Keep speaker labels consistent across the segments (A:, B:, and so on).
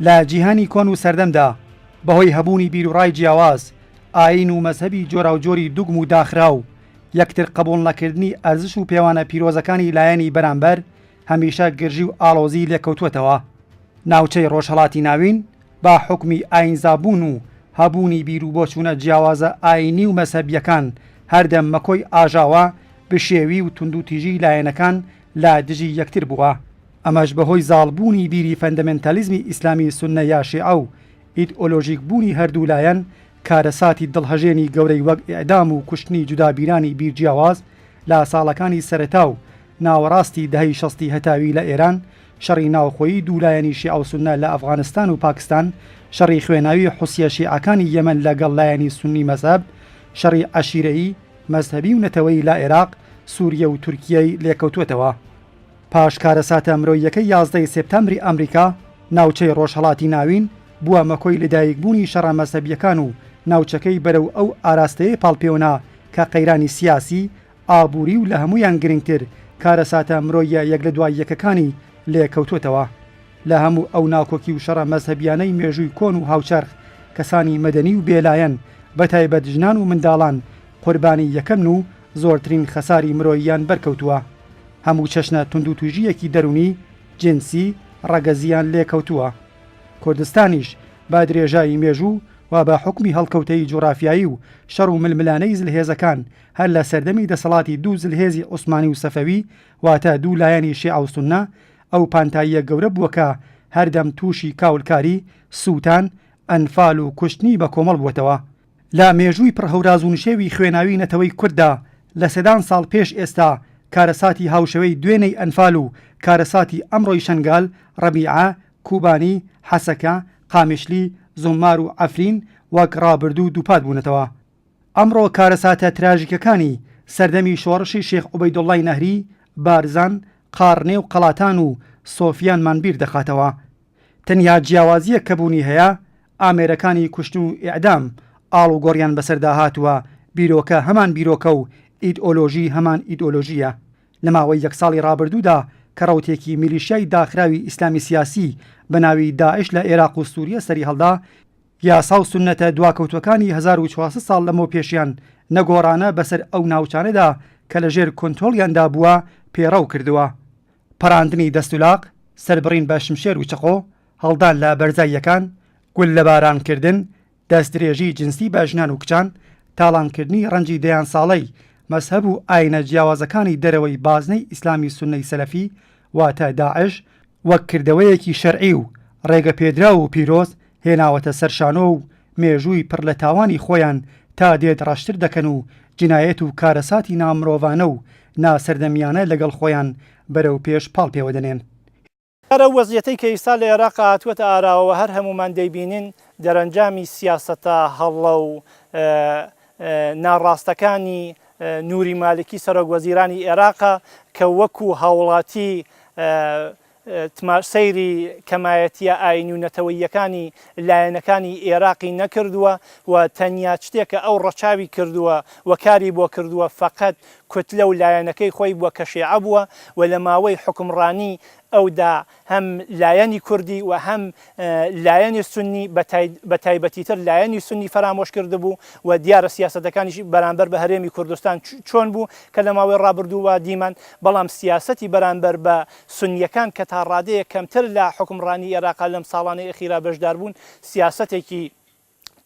A: لە جیهانی کۆن و سەردەمدا بەهۆی هەبوونی بیرروڕای جیاواز ئاین و مەذهبی جۆراوجۆری دوگم و داخراو یەکتر قبوڵ نەکردنی ئەرزش و پێوانە پیرۆزەکانی لایەنی بەرامبەر هەمیشە گرژی و ئاڵۆزی لێکەوتووەتەوە. ناوچەی ڕۆژهەڵاتی ناوین بە حوکمی ئایینزابوون و هەبوونی بیرو بۆچوونە جیاوازە ئایینی و مەزهەبییەکان هەردەم مەکۆی ئاژاوە بشێوی و توندوتیژی لایەنەکان لە دژی یەکتر بووە. ئەمەش بەهۆی زاڵبوونی بیری فەندەمێنتالیزمی ئیسلامی سوننە یا شیعە و ئیدئۆلۆژیک بوونی هەردوو لایەن کارەساتی دڵهەژێنی گەورەی وەک ئیعدام و کوشتنی جودابیرانی بیر جیاواز لە ساڵەکانی سەرەتا و ناوەڕاستی دەهەی شەستی هەتاوی لە ئێران، شەڕی ناوخۆیی دوو لایەنی شیعە و سوننە لە ئەفغانستان و پاکستان، شەڕی خوێناوی حوسییە شیعەکانی یەمەن لە گەڵ لایەنی سوننی مەزهەب، شەڕی عەشیرەیی، مەزهەبی و نەتەوەیی لە عێراق، سووریە و تورکییەی لێکەوتووەتەوە. پاش کارەساتە مرۆییەکەی یازدە ی سێپتامبری ئەمریکا، ناوچەی ڕۆژهەڵاتی ناوین بووە مەکۆی لەدایکبوونی شەڕە مەزهەبییەکان و ناوچەکەی بەرەو ئەو ئاراستەیە پاڵپێوەنا کە قەیرانی سیاسی، ئابووری و لە هەموویان گرنگتر کارەساتە مرۆییە یەک لە دوای یەکەکانی لێ کەوتووەتەوە. لە هەموو ئەو ناکۆکی و شەڕە مەزهەبییانەی مێژووی کۆن و هاوچەرخ، کەسانی مەدەنی و بێلایەن، بەتایبەت ژنان و منداڵان قوربانی یەکەمن و زۆرترین خەساری مرۆییان بەرکەوتووە، هەموو چەشنە توندوتوژییەکی دەروونی، جنسی، ڕەگەزییان لێکەوتووە. کوردستانیش بە درێژایی مێژوو و بە حوکمی هەڵکەوتەی جوغرافیایی و شەڕ و ململانێی زلهێزەکان هەر لە سەردەمی دەسەڵاتی دوو زلهێزی عوسمانی و سەفەوی واتە دوو لایەنی شێعە و سوننە ئەو پانتاییە گەورە بووە کە هەردەم تووشی کاولکاری، سووتان، ئەنفال و کوشتنی بەکۆمەڵ بووەتەوە. لە مێژووی پڕ هەوراز و نشێوی خوێناوی نەتەوەی کورددا، لە سەدان ساڵ پێش ئێستا، کارەساتی هاوشێوەی دوێنێی ئەنفال و کارەساتی ئەمڕۆی شەنگال، ڕەبیعە، کوبانی، حەسەکە، قامیشلی، زوممار و عەفرین وەک ڕابردوو دووپات بوونەتەوە. ئەمڕۆ کارەساتە تراژیکەکانی سەردەمی شۆڕشی شێخ عوبەیدوڵڵای نەهری، بارزان، قاڕنێ و قەڵاتان و سۆفیانمان بیر دەخاتەوە. تەنیا جیاوازییەک کە بوونی هەیە، ئامێرەکانی کوشتن و ئیعدام ئاڵوگۆڕیان بەسەردا هاتووە، بیرۆکە هەمان بیرۆکە و ئیدئۆلۆژی هەمان ئیدئۆلۆژییە. لە ماوەی یەک ساڵی ڕابردوودا کە ڕەوتێکی میلیشیای داخراوی ئیسلامی سیاسی بە ناوی داعش لە ئێراق و سووریە سەریهەڵدا، یاسا و سوننەتە دواکەوتووەکانی هەزار و چوار سەد ساڵ لەمەو پێشیان نەگۆڕانە بەسەر ئەو ناوچانەدا کە لەژێر کۆنترۆڵیاندا بووە، پێڕەو کردووە. پەڕاندنی دەستولاق، سەربڕین بە شمشێر و چەقۆ، هەڵدان لە بەرزاییەکان، گوللەبارانکردن، دەستدرێژی جنسی بە ژنان و کچان، تاڵانکردنی ڕەنجی دەیان ساڵەی مەزهەب و ئایینە جیاوازەکانی دەرەوەی بازنەی ئیسلامی سوننەی سەلەفی واتە داعش وەک کردەوەیەکی شەرعی و ڕێگەپێدراو و پیرۆز هێناوەتە سەر شانۆ و مێژووی پڕ لە تاوانی خۆیان تا دێت ڕەشتر دەکەن و جنایەت و کارەساتی نامرۆڤانە و ناسەردەمیانە لەگەڵ خۆیان بەرەو پێش پاڵ پێوە دەنێن. ئەگەر ئەو
B: وەزعیەتەی کە ئیستا لە ئێراقا هاتووەتە ئاراوە و هەر هەموومان دەیبینین دەرەنجامی سیاسەتە هەڵە و ناڕاستەکانی نوری مالکی سەرۆک وەزیرانی ئێراقە کە وەکو هاوڵاتی تمار سەیری کەمایەتییە ئایینی و نەتەوەییەکانی لایەنەکانی ئێراقی نەکردووە و تەنیا شتێ کە ئەو ڕەچاوی کردووە و کاری بۆ کردووە فەقەت کوتلە و لایەنەکەی خۆی بووە کە شێعە بووە و لە ماوەی حوکمڕانیی ئەودا هەم لایەنی کوردی و هەم لایەنی سوننی بە تایبەتیتر لایەنی سوننی فەرامۆش کردبوو و دیارە سیاسەتەکانیشی بەرامبەر بە هەرێمی کوردستان چۆن بوو کە لە ماوەی ڕابردوودا دیمان بەڵام سیاسەتی بەرامبەر بە سوننیەکان کە تا ڕادەیەک کەمتر لە حوکمڕانی ئێراقا لەم ساڵانەی ئەخیرا بەشداربوون، سیاسەتێکی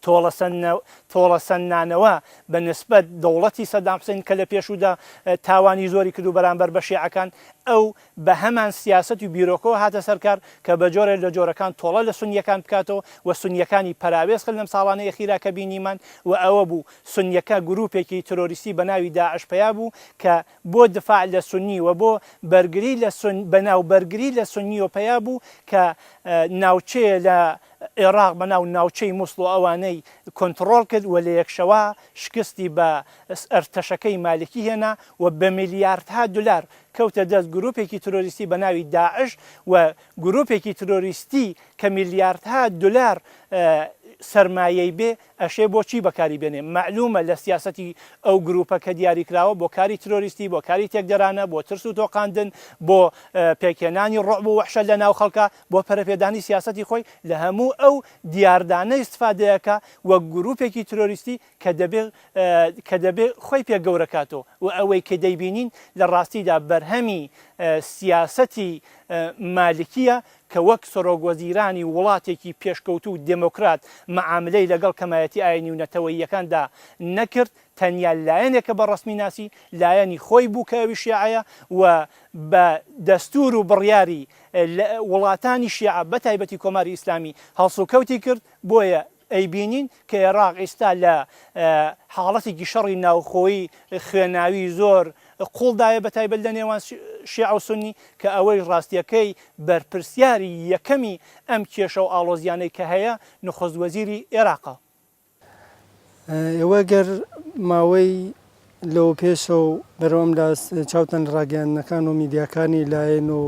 B: تۆڵەسەندنانەوە بە نسبەت دەوڵەتی سەدام حوسەین کە لە پێشوودا تاوانی زۆری کردوو بەرامبەر بە شێعەکان ئەو بە هەمان سیاسەت و بیرۆکەوە هاتە سەر کار کە بە جۆرێ لە جۆرەکان تۆڵە لە سوننیەکان بکاتەوە و سوننیەکانی پەراوێز کرد لەم ساڵانەی ئەخیرا کە بینیمان و ئەوە بوو سوننیەکە گرووپێکی ترۆریستی بە ناوی داعش پەیا بوو کە بۆ دفاع لە سونی و بۆ بەرگری لە سون بەناو بەرگری لە سونی و پەیا بوو کە ناوچەیە لە ئێڕاق بەناو ناوچەی موسڵ و ئەوانەی کۆنتڕۆڵ کرد و لە یەکشەوە شکستی بە ئەرتەشەکەی مالکی هێنا و بە میلیاردها دولار کەوتە دەست گروپێکی ترۆریستی بە ناوی داعش و گروپێکی ترۆریستی کە میلیاردها دولار سەرمایەی بێ ئەشێ بۆ چی بەکاری بێنێ؟ مەعلوومە لە سیاسەتی ئەو گرووپە کە دیاری کراوە بۆ کاری ترۆریستی، بۆ کاری تێکدەرانە، بۆ ترس و تۆقاندن، بۆ پێکهێنانی ڕوعب و وەحشەت لە ناو خەڵکا، بۆ پەرەپێدانی سیاسەتی خۆی، لە هەموو ئەو دیاردانە ئیستفادەی ئەکا وەک گرووپێکی ترۆریستی کە دەبێ کە دەبێ خۆی پێ گەورە کاتۆ و ئەوەی کە دەیبینین لە ڕاستیدا بەرهەمی سیاسەتی مالکییە کە وەک سەرۆک وەزیرانی وڵاتێکی پێشکەوتوو و دێمۆکرات مەعاملەی لەگەڵ کەمایەتی ئایینی و نەتەوەییەکاندا نەکرد، تەنیا لایەنێک کە بە ڕەسمی ناسی، لایەنی خۆی بوو کە ئەویش شێعەیە و بە دەستوور و بڕیاری وڵاتانی شێعە بە تایبەتی کۆماری ئیسلامی هەڵسوکەوتی کرد، بۆیە ئەیبینین کە ئێراق ئیستا لە حاڵەتێکی شەڕی ناوخۆیی خوێناوی زۆر قوڵ دایە بە تایبەت لە نێوان شێعە و سوننی کە ئەوەیش ڕاستیەکەی بەرپرسیاری یەکەمی ئەم کێشە و ئاڵۆزیانەی کە هەیە نوخست وەزیری ئێراقە. ئێوە
C: گەر ماوەی لەوە پێشەوە بەرەو ئەم لاس چاوتان لە ڕاگەیاندنەکان و میدیاکانی لایەن و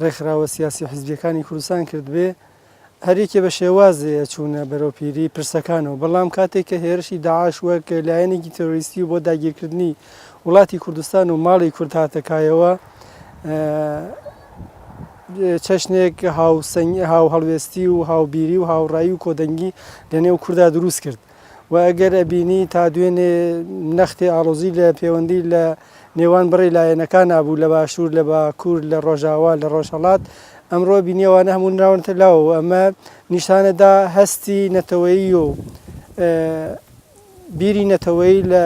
C: ڕێکخراوە سیاسی و حیزبیەکانی کوردستان کردبێ، هەریەکێ بە شێوازێ ئەچوونە بەرەو پیری پرسەکانەوە، بەڵام کاتێ کە هێرشی داعش وەک لایەنێکی تێرۆریستی و بۆ داگیرکردنی وڵاتی کوردستان و ماڵی کورد هاتە کایەوە، چەشنێک هاوسەنگی، هاوهەڵوێستی و هاوبیری و هاوڕایی و کۆدەنگی لە نێو کوردا دروست کرد. وە ئەگەر ئەبینی تا دوێنێ نەختی ئاڵۆزی لە پێوەندی لە نێوان بڕی لایەنەکانا بوو لە باشوور لە باکوور لە ڕۆژاوا لە ڕۆژهەڵات ئەمڕۆ ئەبینی ئەوانە هەموو نراونەتە لاوە و ئەمە نیشانەدا هەستی نەتەوەیی و بیری نەتەوەیی لە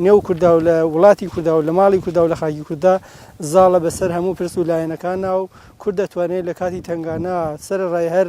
C: نێو کوردا و لە وڵاتی کوردا و لە ماڵی کوردا و لە خاکی کوردا زاڵە بەسەر هەموو پرس و لایەنەکانا و کورد دەتوانێت لە کاتی تەنگانا سەرەڕای هەر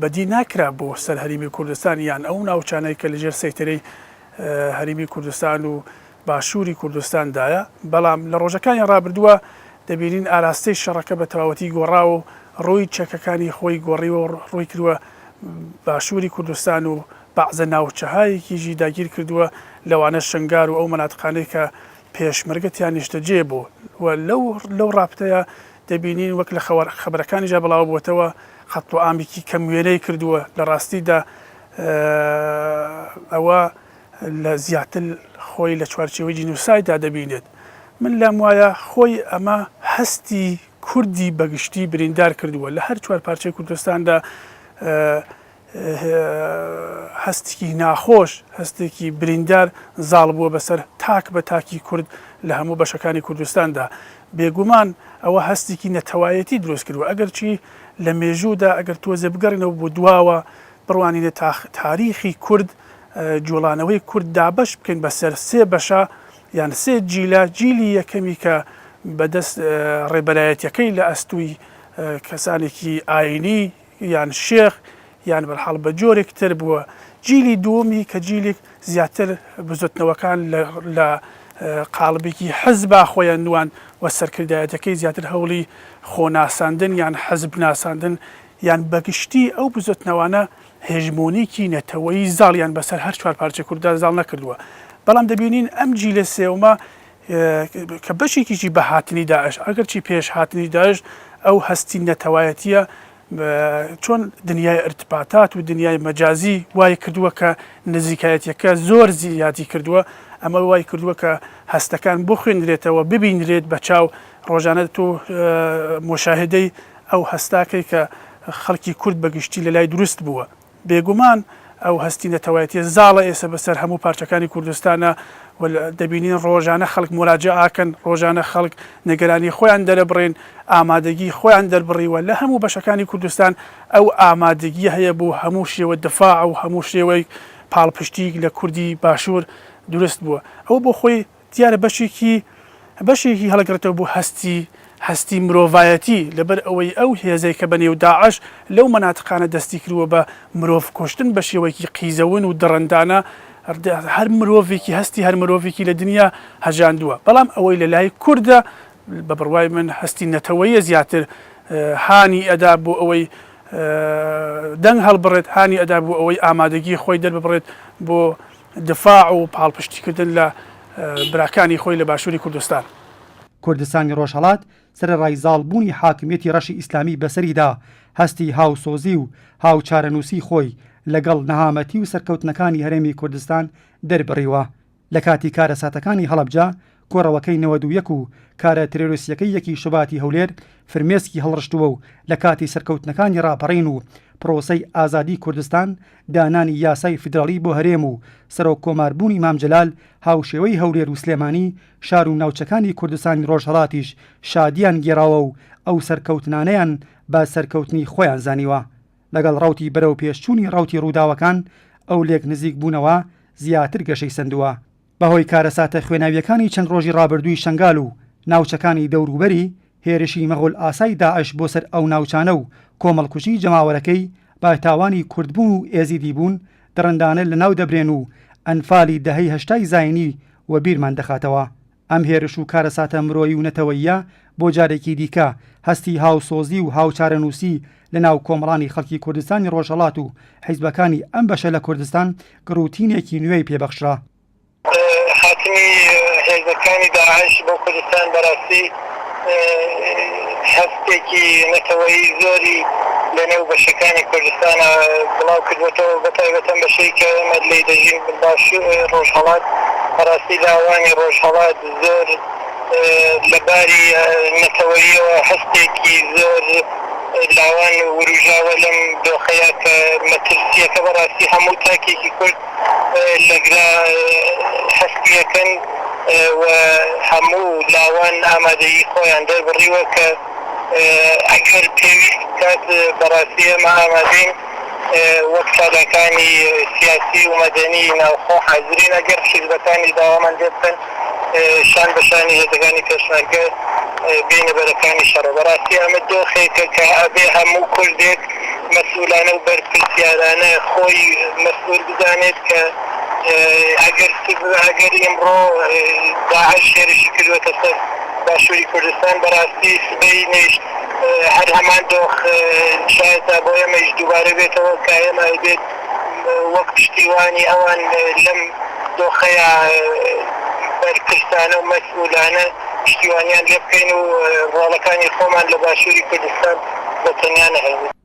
D: بەدی ناکرا بۆ سەر هەریمی کوردستان یان ئەو ناوچانەی کە لەژێر سەیتەرەی هەریمی کوردستان و باشوری کوردستان دایە، بەڵام لە ڕۆژەکانی ڕابردووە دەبینین ئاراستەی شەڕەکە بە تەواوەتی گۆڕاوە و ڕووی چەکەکانی خۆی گۆڕیوە و ڕووی کردوە باشوری کوردستان و بەعزە ناوچەهایەکیژی داگیر کردووە لەوانە شەنگار و ئەو مەناتقانەی کە پێشمەرگە تیا نیشتەجێ بوون و لەو ڕاپتەیا دەبینین وەک لە خەبەرەکانیژا بڵاوبۆتەوە خەت و ئامێکی کەم وێنەی کردووە، لە ڕاستیدا ئەوە لە زیاتر خۆی لە چوارچێوەی جینۆسایددا دەبینێت. من لام وایە خۆی ئەمە هەستی کوردی بە گشتی بریندار کردووە، لە هەر چوار پارچەی کوردستاندا هەستێکی ناخۆش، هەستێکی بریندار زاڵ بووە بەسەر تاک بە تاکی کورد لە هەموو بەشەکانی کوردستاندا. بێگومان ئەوە هەستێکی نەتەوایەتی دروست کردووە، ئەگەرچی لە مێژوودا ئەگەر تۆزێ بگەڕێینەوە بۆ دواوە بڕوانینە تاریخی کورد، جوڵانەوەی کورد دابەش بکەین بەسەر سێ بەشە یان سێ جیلە، جیلی یەکەمی کە بەدەست ڕێبەرایەتیەکەی لە ئەستووی کەسانێکی ئاینی، یان شێخ یان بەرحاڵ بە جۆرێک تر بووە جیلی دووەمی کە جیلیک زیاتر بزوتنەوەکان لە لە قاڵبیکی حزبا خۆیان نواند و سەرکردایەتەکەی زیاتر هەوڵی خۆ ناساندن یان حزب ناساندن یان بە گشتی ئەو بزوتنەوانە هێژمۆنیکی نەتەوەیی زاڵیان بە سەر هەر چوار پارچەی کورددا زاڵ نەکردووە بەڵام دەبینین ئەم جیلە سێومە کە بەشێکیشی بە هاتنی داعش، ئەگەرچی پێش هاتنی داعش ئەو هەستی نەتەوایەتییە چۆن دنیای ئرتباتات و دنیای مەجازی وای کردووە کە نزیکایەتیەکە زۆر زیادی کردووە، ئەمە وای کردووە کە هەستەکان بخوێنرێتەوە، ببینرێت بە چاو، ڕۆژانە تۆ موشاهەدەی ئەو هەستە کەی کە خەڵکی کورد بە گشتی لە لای دروست بووە. بێگومان ئەو هەستی نەتەوایەتیە زاڵە ئێسە بەسەر هەموو پارچەکانی کوردستانا و دەبینین ڕۆژانە خەڵک موراجەئاکەن، ڕۆژانە خەڵک نەگەرانی خۆیان دەرەبڕێن، ئامادەگی خۆیان دەربڕیوە، لە هەموو بەشەکانی کوردستان ئەو ئامادەگیە هەیە بۆ هەموو شێوە دفاع و هەموو شێوەیک پاڵپشتیک لە کوردی باشور دروست بووە. ئەو بۆ خۆی دیارە بەشێکی بەشێکی هەڵگڕێتەوە بۆ هەستی هەستی مرۆڤایەتی لەبەر ئەوەی ئەو هێزەی کە بەنێو داعش لەو مەناتقانە دەستی کرووە بە مرۆڤ کوشتن بە شێوەیەکی قیزەون و دڕندانە هەر مرۆڤێکی هەستی هەر مرۆڤێکی لە دنیا هەژاندووە بەڵام ئەوەی لە لای کوردە بە بڕوای من هەستی نەتەوەیە زیاتر هانی ئەدا بۆ ئەوەی دەنگ هەڵبڕێت هانی ئەدا بۆ ئەوەی ئامادەگی خۆی دەرببڕێت بۆ دفاع و پاڵپشتیکردن لە براکانی خۆی لە باشووری کوردستان. کوردستانی
A: ڕۆژهەڵات سەرەڕای زاڵبوونی حاکمیەتی ڕەشی ئیسلامی بەسەریدا، هەستی هاوسۆزی و هاوچارەنووسی خۆی لەگەڵ نەهامەتی و سەرکەوتنەکانی هەرێمی کوردستان دەربڕیوە. لەکاتی کارەساتەکانی هەڵەبجە کۆڕەوەکەی نەوەد و یەک و کارە ترێرۆسیەکەی یەکی شوباتی هەولێر فرمێسکی هەڵڕشتووە و لە کاتی سەرکەوتنەکانی ڕاپەڕین و پڕۆسەی ئازادی کوردستان دانانی یاسای فیدراڵی بۆ هەرێم و سەرۆک کۆمار بوونی مام جەلال هاوشێوەی هەولێر و سلێمانی شار و ناوچەکانی کوردستانی ڕۆژهەڵاتیش شادیان گێڕاوە و ئەو سەرکەوتنانەیان بە سەرکەوتنی خۆیان زانیوە لەگەڵ ڕەوتی بەرەوپێشچوونی ڕەوتی ڕووداوەکان ئەو لێک نزیک بوونەوە زیاتر گەشەی سەندووە بەهۆی کارەساتە خوێناوییەکانی چەند ڕۆژی ڕابردووی شەنگال و ناوچەکانی دەوروبەری، هێرشی مەغۆلئاسای داعش بۆ سەر ئەو ناوچانە و کۆمەڵکوژی جەماوەرەکەی بە تاوانی کوردبوون و ئێزیدیبوون دڕندانە لەناو دەبرێن و ئەنفالی دەهەی هەشتای زاینی وەبیرمان دەخاتەوە. ئەم هێرش و کارەساتە مرۆیی و نەتەوەییە بۆ جارێکی دیکە هەستی هاوسۆزی و هاوچارەنووسی لەناو کۆمەڵانی خەڵکی کوردستانی ڕۆژهەڵات و حیزبەکانی ئەم بەشە لە کوردستان گڕوتینێکی نوێی پێ بەخشرا.
E: هاتنی هێزەکانی داعش بۆ کوردستان بەراستی هەستێکی نەتەوەیی زۆری لە نێو بەشەکانی کوردستانا بڵاو کردوەتەوە بە تایبەت ئەم بەشەی کە ئێمە لێی دەژین باشو ڕۆژهەڵات بەراستی لاوانی ڕۆژهەڵات زۆر لە باری نەتەوەییەوە هەستێکی زۆر لاوان ورووژاوە لەم دۆخەیا کە مەترسییەکە بەڕاستی هەموو تاکێکی کورد لە گرا هەستییەکەن و هەموو لاوان ئامادەیی خۆیان دەربڕیوە کە ئەگەر پێویست بکات بەڕاستی ئێمە ئامادەین وەک چالاکانی سیاسی و مەدەنی ناوخۆ حازرین، ئەگەر حیزبەکانی داوامان لێ بکەن شان بە شانی هێزەکانی پێشمەرگە بێینە بەرەکانی شەڕ، بەڕاستی ئەمە دۆخێکە کە ئەبێ هەموو کوردێک مەسئولانە و بەرپرسیارانە خۆی مەسئول بزانێت کە ئەگەر ئەگەر ئیمڕۆ داعش هێرشی کردووەتە سەر، باشوری کوردستان بەراستی سبەی نیشت هەر هەمان دۆخ شایەتا بۆ ئێمەیش دوبارە بێتەوە کە ئێمە ئەیبێت وەک پشتیوانی ئەوان لەم دۆخەیا بەرپرسانە و مەسئولانە پشتیوانیان لێبکەین و ڕۆڵەکانی خۆمان لە باشوری کوردستان بە تەنیا نەهێڵین.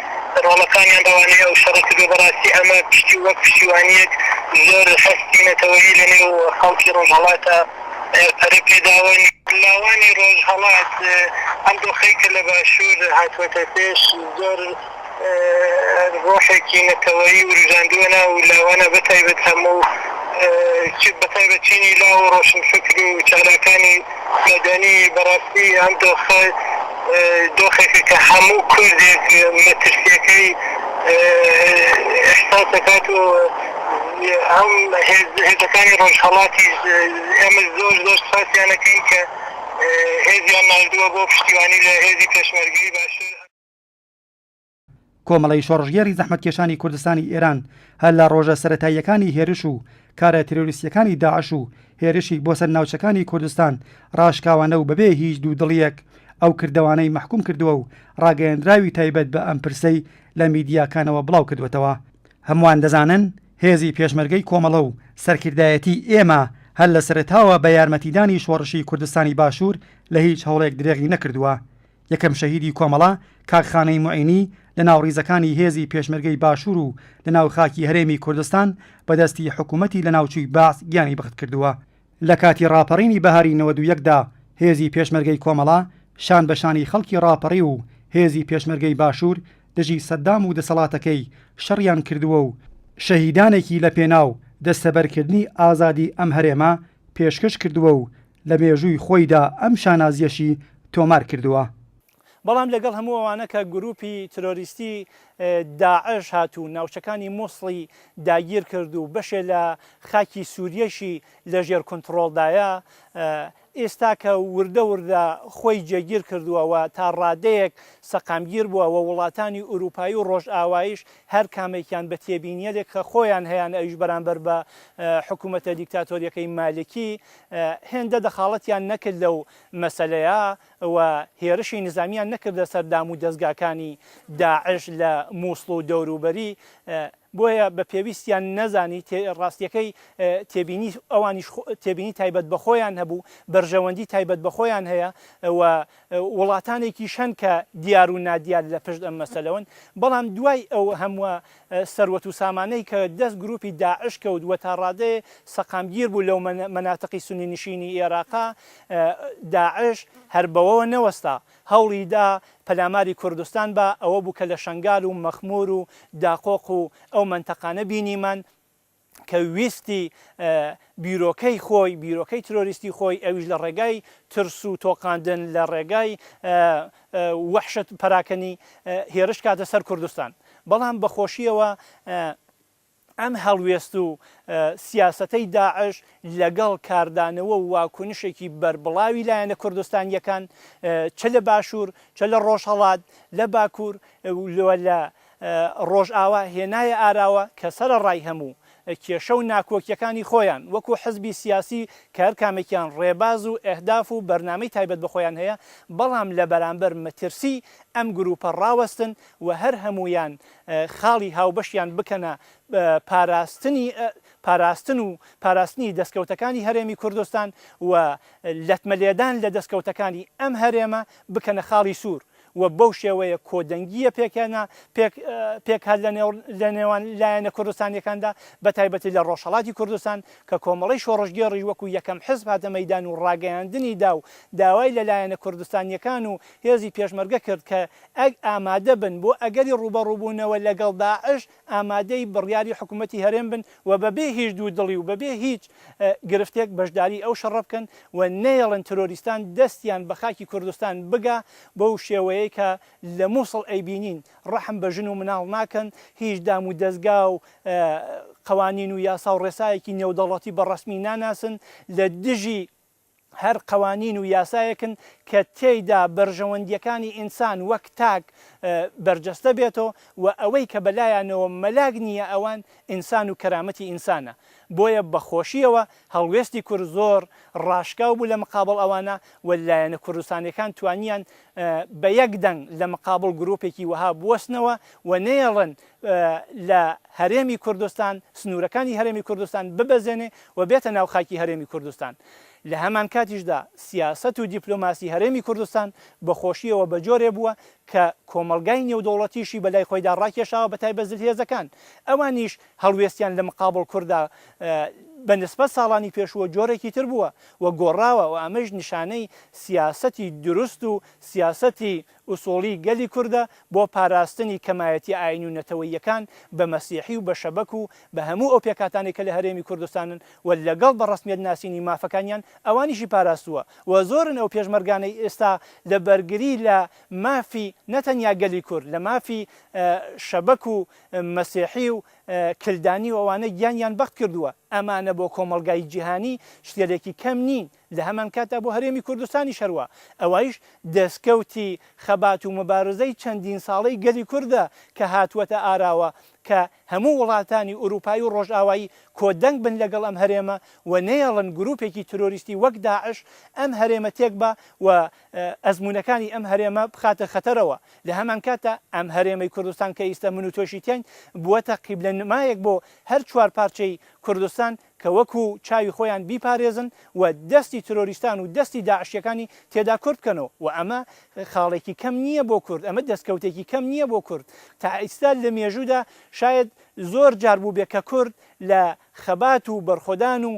E: ڕۆڵەکانیان بەوانەی ئەو شەڕە کردوە، بەڕاستی ئەمە پشتی وەک پشتیوانیەک زۆر هەستی نەتەوەیی لە نێو خەڵکی ڕۆژهەڵاتە پەرە پێداون. لاوانی ڕۆژهەڵات ئەم دۆخەی کە لە باشور هاتوەتە پێش زۆر ڕۆحێکی نەتەوەیی وروژاندوە ناو لاوانا بەتایبەت هەموو چ بەتایبەت چینی لاو و ڕۆشنفکر و چالاکانی مەدەنی بەڕاستی ئەم دۆخە دۆخێکە کە هەموو کوردێک مەترسییەکەی ئیحساس دەکات و ئەم هێزەکانی ڕۆژهەڵاتیش ئێمە زۆر زۆر سوپاسیان ئەکەین کە هێزیان ناردووە بۆ پشتیوانی لە هێزی پێشمەرگەی باشوور.
A: کۆمەڵەی شۆڕشگێڕی زەحمەتکێشانی کوردستانی ئێران هەر لە ڕۆژە سەرەتاییەکانی هێرش و کارە تیرۆریستییەکانی داعش و هێرشی بۆ سەر ناوچەکانی کوردستان ڕاشکاوانە و بەبێ هیچ دوودڵییەک ئەو کردەوانەی مەحکووم کردووە و ڕاگەیەندراوی تایبەت بە ئەم پرسەی لە میدیاکانەوە بڵاو کردووەتەوە. هەمووان دەزانن هێزی پێشمەرگەی کۆمەڵە و سەرکردایەتیی ئێمە هەر لە سەرەتاوە بە یارمەتیدانی شۆڕشی کوردستانی باشوور لە هیچ هەوڵێک درێغی نەکردووە. یەکەم شەهیدی کۆمەڵە، کاک خانەی موعینی، لە ناو ڕیزەکانی هێزی پێشمەرگەی باشوور و لە ناو خاکی هەرێمی کوردستان بە دەستی حکوومەتی لەناوچووی بەعس گیانی بەخت کردووە. لە کاتی ڕاپەڕینی بەهاری نەوەد و یەک دا هێزی پێشمەرگەی کۆمەڵە شان بە شانی خەڵکی ڕاپەڕیو و هێزی پێشمەرگەی باشوور دژی سەددام و دەسەڵاتەکەی شەڕیان کردووە و شەهیدانێکی لە پێناو دەستەبەر کردنی ئازادی ئەم هەرێمە پێشکەش کردووە و لە مێژووی خۆیدا ئەم شانازییەشی تۆمار کردووە. بەڵام لەگەڵ
B: هەموو ئەوانە کە گرووپی ترۆریستی داعش هات و ناوچەکانی موسڵی داگیر کرد و بەشێ لە خاکی سووریەشی لە ژێر کونتڕۆڵدایە، ئێستاکە وردە وردە خۆی جێگیر کردووە و تا ڕادەیەک سەقامگیر بووە و وڵاتانی ئورووپایی و ڕۆژئاوایش هەر کامێکیان بە تێبینییەێک کە خۆیان هەیانە ئەویش بەرامبەر بە حکوومەتە دیکتاتۆرییەکەی مالکی هێندە دەخاڵەتیان نەکرد لەو مەسەلەیە و هێرشی نیزامیان نەکردە سەر دامو دەزگاکانی داعش لە موسڵ و دەوروبەری بۆیە بە پێویستیان نەزانی ڕاستیەکەی تێبینی ئەوانیش تێبینی تایبەت بە خۆیان هەبوو بەرژەوەندی تایبەت بە خۆیان هەیە و وڵاتانێکی شەن کە دیار و نادیار لە پشت ئەم مەسەلەوەن بەڵام دوای ئەو هەمووە سەروەت و سامانەی کە دەست گروپی داعش کەوت وە تا ڕادەیێ سەقامگیر بوو لەو مەناتقی سونی نشینی ئێراقا داعش هەر بەوەوە نەوەستا هەوڵی دا پەلاماری کوردستان با ئەوە بوو کە لە شەنگال و مەخمور و داقۆق و ئەو مەنتەقانە بینیمان کە ویستی بیرۆکەی خۆی، بیرۆکەی ترۆریستی خۆی ئەویش لە ڕێگای ترس و تۆقاندن، لە ڕێگای وەحشەت پەراکەنی هێرش کاتە سەر کوردستان. بەڵام بە خۆشیەوە ئەم هەڵوێست و سیاسەتەی داعش لەگەڵ کاردانەوە و واکونشێکی بەربڵاوی لایەنە کوردستانیەکان چ لە باشوور، چ لە ڕۆژهەڵات، لە باکوور و لە ڕۆژئاوا هێنایە ئاراوە کە سەرەڕای هەموو کێشە و ناکۆکیەکانی خۆیان وەکو حزبی سیاسی کە هەرکامێکیان ڕێباز و ئەهداف و بەرنامەی تایبەت بە خۆیان هەیە بەڵام لە بەرامبەر مەترسی ئەم گروپە ڕاوەستن و هەر هەموویان خاڵی هاوبەشیان بکەنە پاراستنی پاراستن و پاراستنی دەستکەوتەکانی هەرێمی کوردستان و لەتمە لێدان لە دەستکەوتەکانی ئەم هەرێمە بکەنە خاڵی سوور و بەو شێوەیە کۆدەنگییە پێکهێنا، پێک پێک هات لە نێوان لایەنە کوردستانییەکاندا، بەتایبەتی لە ڕۆژهەڵاتی کوردستان، کە کۆمەڵەی شۆڕشگێڕیش وەکوو یەکەم حزب هاتە مەیدان و ڕاگەیاندنی دا و داوای لە لایەنە کوردستانییەکان و هێزی پێشمەرگە کرد کە ئامادە بن بۆ ئەگەری ڕووبەڕووبوونەوە لەگەڵ داعش، ئامادەی بڕیاری حکوومەتی هەرێم بن و بەبێ هیچ دوو دڵی و بەبێ هیچ گرفتێک بەشداریی ئەو شەڕە بکەن و نەیەڵن ترۆریستان دەستیان بە خاکی کوردستان بگا بەو شێوەیەی کە لە مووسڵ ئەیبینین ڕەحم بە ژن و مناڵ ناکەن هیچ دام و دەزگا و قەوانین و یاسا و ڕێسایەکی نێودەوڵەتی بە ڕەسمی ناناسن لە دژی هەر قەوانین و یاسایەکن کە تێیدا بەرژەوەندییەکانی ئینسان وەک تاک بەرجەستە بێتەوە و ئەوەی کە بەلایانەوە مەلاک نییە ئەوان ئینسان و کەرامەتی ئینسانە بۆیە بە خۆشییەوە هەڵوێستی کورد زۆر ڕاشکاو بوو لە مقابڵ ئەوانە و لایەنە کوردستانیەکان توانیان بە یەک دەنگ لە مقابڵ گروپێکی وەها بوەستنەوە و نەیەڵن لە هەرێمی کوردستان، سنوورەکانی هەرێمی کوردستان ببەزێنێ و بێتە ناو خاکی هەرێمی کوردستان. لە هەمانکاتیشدا سیاسەت و دیپلۆماسی هەرێمی کوردستان بە خۆشییەوە بە جۆرێ بووە کە کۆمەڵگای نێودەوڵەتیشی بە لای خۆیدا ڕاکێشاوە بە تایبەت زلهێزەکان ئەوانیش هەڵوێستیان لە مقابڵ کوردا بە نسبەت ساڵانی پێشووە جۆرێکی تر بووە و گۆڕاوە و ئەمەیش نیشانەی سیاسەتی دروست و سیاسەتی ئوسوڵی گەلی کوردە بۆ پاراستنی کەمایەتی ئاینی و نەتەوەییەکان بە مەسیحی و بە شەبەک و بە هەموو ئەو پێکهاتانەی کە لە هەرێمی کوردستانن و لەگەڵ بە ڕەسمیەت ناسینی مافەکانیان ئەوانیشی پاراستووە و زۆرن ئەو پێشمەرگانەی ئێستا لە بەرگری لە مافی نەتەنیا گەلی کورد لە مافی شەبەک و مەسیحی و کلدانی و ئەوانە گیانیان بەخت کردووە ئەمانە بۆ کۆمەڵگای جیهانی شتێلێکی کەم نین لە هەمانکاتدا بۆ هەرێمی کوردستانیش هەروا، ئەوەیش دەستکەوتی خەبات و موبارزەی چەندین ساڵەی گەلی کوردە کە هاتووەتە ئاراوە کە هەموو وڵاتانی ئورووپایی و ڕۆژئاوایی کۆدەنگ بن لەگەڵ ئەم هەرێمە و نەیەڵن گرووپێکی ترۆریستی وەک داعش ئەم هەرێمە تێکبا و ئەزموونەکانی ئەم هەرێمە بخاتە خەتەرەوە. لە هەمانکاتدا ئەم هەرێمەی کوردستان کە ئیستە من و تۆشی تیاین بووەتە قیبلەنمایەک بۆ هەر چوارپارچەی کوردستان، کە وەکو چاوی خۆیان بیپارێزن و دەستی ترۆریستان و دەستی داعشیەکانی تێدا کورت بکەنەوە و ئەمە خاڵێکی کەم نیە بۆ کورد ئەمە دەستکەوتێکی کەم نیە بۆ کورد تا ئیستا لە مێژودا شایەد زۆر جار بوبێ کە کورد لە خەبات و بەرخۆدان و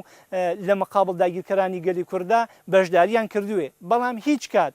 B: لە مقابل داگیرکەرانی گەلی کورددا بەشداریان کردوێ بەڵام هیچ کات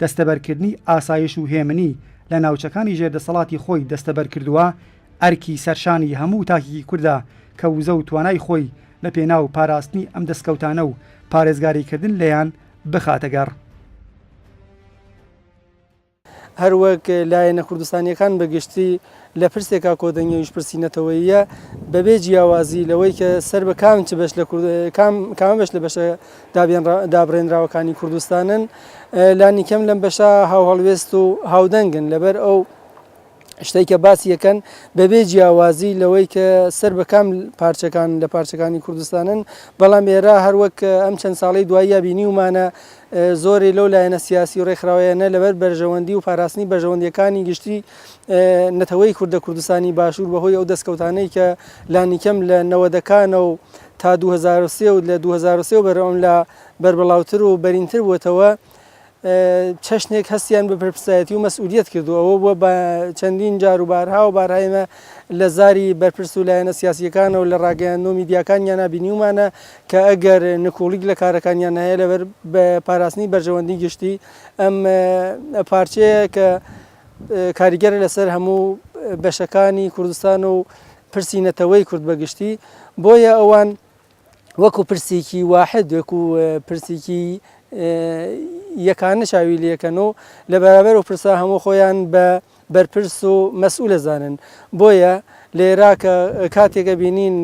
A: دەستەبەرکردنی ئاسایش و هێمنی لە ناوچەکانی ژێر دەسەڵاتی خۆی دەستەبەر کردووە، ئەرکی سەرشانی هەموو تاکێکی کوردە کە وزە و توانای خۆی لە پێناو پاراستنی ئەم دەسکەوتانە و پارێزگاریکردن لێیان بخاتە گەڕ.
C: هەروەک لایەنە کوردستانییەکان بە گشتی، لە پرسێکا کۆدەنگی ئەویش پرسی نەتەوەییە، بەبێ جیاوازی لەوەی کە سەر بە کام چ بەش لە کورد کام کامە بەش لە بەشە دابێن دابڕێنراوەکانی کوردستانن، لانی کەم لەم بەشە هاوهەڵوێست و هاودەنگن، لەبەر ئەو شتەی کە باسی ئەکەن بەبێ جیاوازی لەوەی کە سەر بە کام پارچەکان لە پارچەکانی کوردستانن، بەڵام ئێرە هەر وەک ئەم چەند ساڵەی دواییە بینیومانە زۆرێ لەو لایەنە سیاسی و ڕێکخراوەیانە لەبەر بەرژەوەندی و پاراستنی بەرژەوەندییەکانی گشتی، نەتەوەی کوردە کوردستانی باشوور بە هۆی ئەو دەستکەوتانەی کە لانیکەم لە نەوەدەکانە و تا دوو هەزار و سێ و لە دوو هەزار و سێ و بەر ئەملا بەربڵاوتر و بەرینتر بووەتەوە چەشنێک هەستیان بە بەرپرسایەتی و مەسئولیت کردو ئەوە بووە بە چەندین جار و بارها و بارها ئێمە لە زاری بەرپرس و لایەنە سیاسیەکانە و لە ڕاگەیاندنەوە میدیاکانیانە بینیومانە کە ئەگەر نکوڵیک لە کارەکانیان هەیە لەبەر بە پاراستنی بەرژەوەندی گشتی ئەم پارچەیە کە کاریگەرە لەسەر هەموو بەشەکانی کوردستان و پرسی نەتەوەی کورد بەگشتی بۆیە ئەوان وەکو پرسێکی واحد وەکو پرسێکی یەکانە چاوی لەکەن و لە بەرابەر و پرسا هەموو خۆیان بە بەرپرس و مەسئولە زانن بۆیە لە عێراق کاتێکە بینین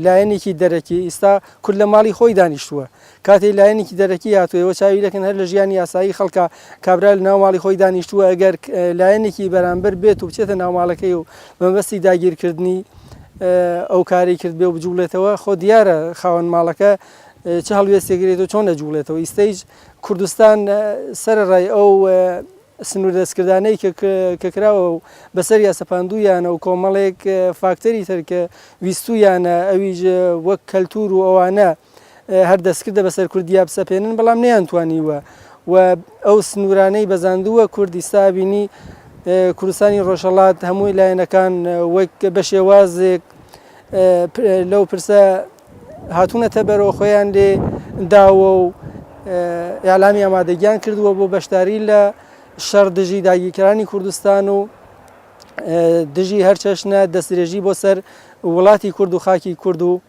C: لایەنێکی دەرەکی ئیستا کورد لە ماڵی خۆی دانیشتووە کاتێ لایەنێکی دەرەکی هاتووە ئێوە چاوی لێکەن هەر لە ژیانی یاسایی خەڵکا کابرا لە ناو ماڵی خۆی دانیشتووە ئەگەر لایەنێکی بەرامبەر بێت و بچێتە ناو ماڵەکەی و بەمەبەستی داگیرکردنی ئەو کارەی کردبێ و بجوڵێتەوە خۆ دیارە خاوەن ماڵەکە چ هەڵوێستێک گرێت و چۆن ئەجوڵێتەوە ئیستەیش کوردستان سەرەڕای ئەو سنوور دەستکردانەی کە کراوە و بەسەر یا سەپاندوویانە و کۆمەڵێک فاکتەری تر کە ویستوویانە ئەویش وەک کەلتور و ئەوانە هەر دەستکردە بەسەر کوردیا بسەپێنن بەڵام نەیانتوانیوە و ئەو سنوورانەی بەزاندووە کورد ئیستا بینی کوردستانی ڕۆژهەڵات هەمووی لایەنەکان وەک بە شێوازێک لەو پرسە هاتوونەتە بەرەوە خۆیان لێ داوە و ئەلامی ئامادەگیان کردووە بۆ بەشداری لە شەڕ دژی داگیرکەرانی کوردستان و دژی هەرچەشنە دەستێژی بۆ سەر وڵاتی کورد و خاکی کورد و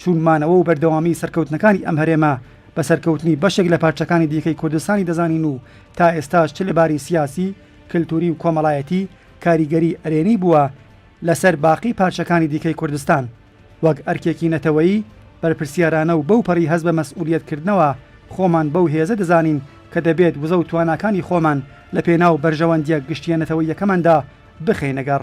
A: چون مانەوە و بەردەوامیی سەرکەوتنەکانی ئەم هەرێمە بە سەرکەوتنی بەشێک لە پارچەکانی دیکەی کوردستانی دەزانین و تا ئێستاش چ لە باری سیاسی، کلتووری و کۆمەڵایەتی کاریگەریی ئەرێنی بووە لە سەر باقی پارچەکانی دیکەی کوردستان، وەک ئەرکێکی نەتەوەیی بەرپرسیارانە و بەوپەڕی هەست بە مەسئوولییەتکردنەوە خۆمان بەو هێزە دەزانین کە دەبێت وزە و تواناکانی خۆمان لە پێناو بەرژەوەندییە گشتییە نەتەوەییەکەماندا بخەینە گەڕ.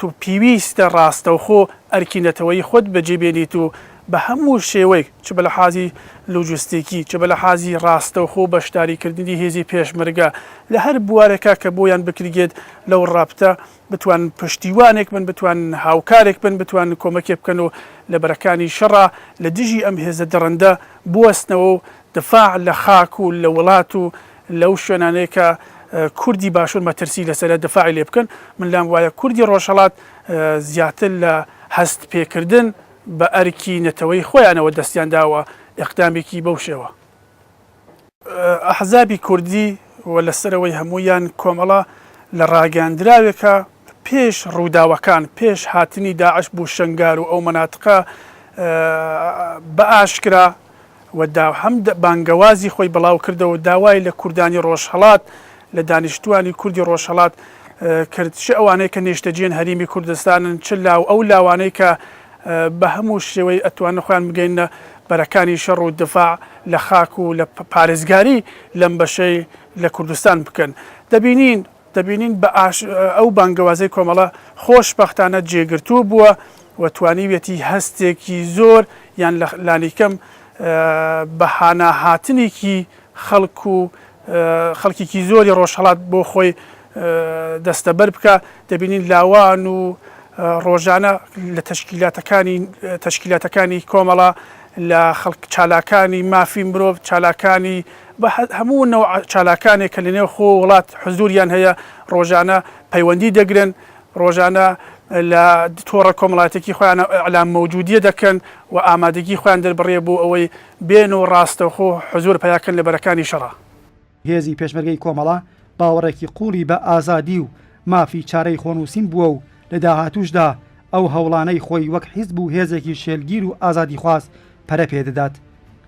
D: تۆ پیویستە ڕاستەوخۆ ئەرکی نەتەوەیی خۆت بەجێ بێنیت و بە هەموو شێوەیک چ بە لەحازی لۆجستیکی چ بە لەحازی ڕاستەوخۆ بەشداری کردنی هێزی پێشمەرگە لە هەر بوارێکا کە بۆیان بکرگێت لەو ڕەپتە بتوانن پشتیوانێک بن بتوانن هاوکارێک بن بتوانن کۆمەکێ بکەن و لە بەرەکانی شەڕا لە دژی ئەم هێزە دڕندە بوەستنەوە و دفاع لە خاک و لە وڵات و لەو شوێنانەی کە کوردی باشور مەترسی لەسەرە دفاعی لێ بکەن، من لام وایە کوردی ڕۆژهەڵات زیاتر لە هەست پێکردن بە ئەرکی نەتەوەی خۆیانەوە دەستیان داوە ئیقدامێکی بەو شێوە. ئەحزابی کوردی و لەسەرەوەی هەموویان کۆمەڵە لە ڕاگەیاندراوێکا پێش ڕووداوەکان، پێش هاتنی داعش بۆ شەنگار و ئەو مەناتقە بە ئاشکرا و دا هەم بانگەوازی خۆی بڵاو کردەوە و داوای لە کوردانی ڕۆژهەڵات، لە دانیشتووانی کوردی ڕۆژهەڵات کرد، چ ئەوانەی کە نێشتەجێن هەرێمی کوردستانن، چ لاو ئەو لاوانەی کە بە هەموو شێوەی ئەتوانن خۆیان بگەیننە بەرەکانی شەڕ و دفاع لە خاک و لە پارێزگاری لەم بەشەی لە کوردستان بکەن. دەبینین دەبینین بە ئاش ئەو بانگەوازەی کۆمەڵە خۆش بەختانە جێگرتوو بووە و توانیویەتی هەستێکی زۆر یان لە لانیکەم بە هانا هاتنیکی خەڵک و خەڵکیکی زۆری ڕۆژهەڵات بۆ خۆی دەستەبەر بکا دەبینین لاوان و ڕۆژانە لە تەشکیلاتەکانی تەشکیلاتەکانی کۆمەڵە لە خەڵک چالاکانی مافی مرۆڤ چالاکانی بە هەموو نەوع چالاکانێک کە لەنێو خۆ وڵات حزووریان هەیە، ڕۆژانە پەیوەندی دەگرن، ڕۆژانە لە تۆڕە کۆمەڵاتیەکی خۆیان ئیعلام مەوجودیە دەکەن و ئامادەگی خۆیان دەربڕێ بۆ ئەوەی بێن و ڕاستەوخۆ حزوور پەیاکەن لە بەرەکانی شەڕا. هێزی
A: پێشمەرگەی کۆمەڵە باوەڕێکی قووڵی بە ئازادی و مافی چارەی خۆنووسین بووە و لە داهاتووشدا ئەو هەوڵانەی خۆی وەک حیزب و هێزێکی شێلگیر و ئازادیخواز پەرە پێ دەدات.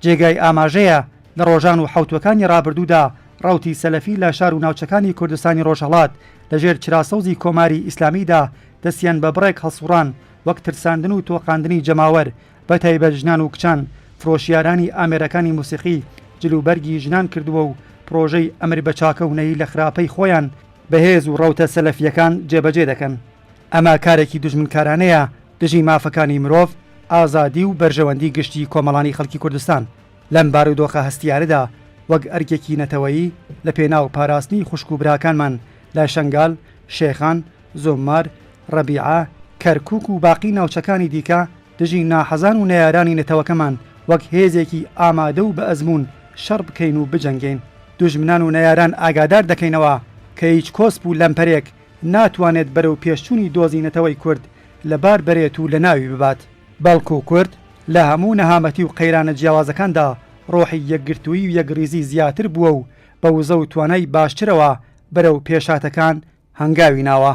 A: جێگای ئاماژەیە لە ڕۆژان و حەوتووەکانی ڕابردوودا ڕەوتی سەلەفی لە شار و ناوچەکانی کوردستانی ڕۆژهەڵات لە ژێر چرا سەوزی کۆماری ئیسلامیدا دەستیان بە بڕێک هەڵسووڕان وەک ترساندن و تۆقاندنی جەماوەر بە تایبەت ژنان و کچان فرۆشیارانی ئامێرەکانی موسیقی جل و بەرگی ژنان کردووە و پڕۆژەی ئەمر بە چاکە و نەهی لە خراپەی خۆیان بەهێز و ڕەوتە سەلەفییەکان جێبەجێ دەکەن. ئەمە کارێکی دوژمنکارانەیە دژی مافەکانی مرۆڤ، ئازادی و بەرژەوەندی گشتی کۆمەڵانی خەڵکی کوردستان. لەم بارودۆخە هەستیارەدا وەک ئەرکێکی نەتەوەیی لە پێناو پاراستنی خوشک و براکانمان لە شەنگال، شێخان، زۆممار، ڕەبیعە، کەرکووک و باقی ناوچەکانی دیکە دژی ناحەزان و نەیارانی نەتەوەکەمان وەک هێزێکی ئامادە و بە ئەزموون شەڕ بکەین و بجەنگێین. دوژمنان و نەیاران ئاگادار دەکەینەوە کە هیچ کۆسپ و لەمپەرێک ناتوانێت بەرەو پێشچوونی دۆزی نەتەوەی کورد لەبار بەرێت و لەناوی ببات. بەڵکو کورد لە هەموو نەهامەتی و قەیرانە جیاوازەکاندا ڕۆحی یەکگرتوویی و یەکڕیزی زیاتر بووە و بە وزە و توانای باشترەوە بەرەو پێشهاتەکان هەنگاوی ناوە.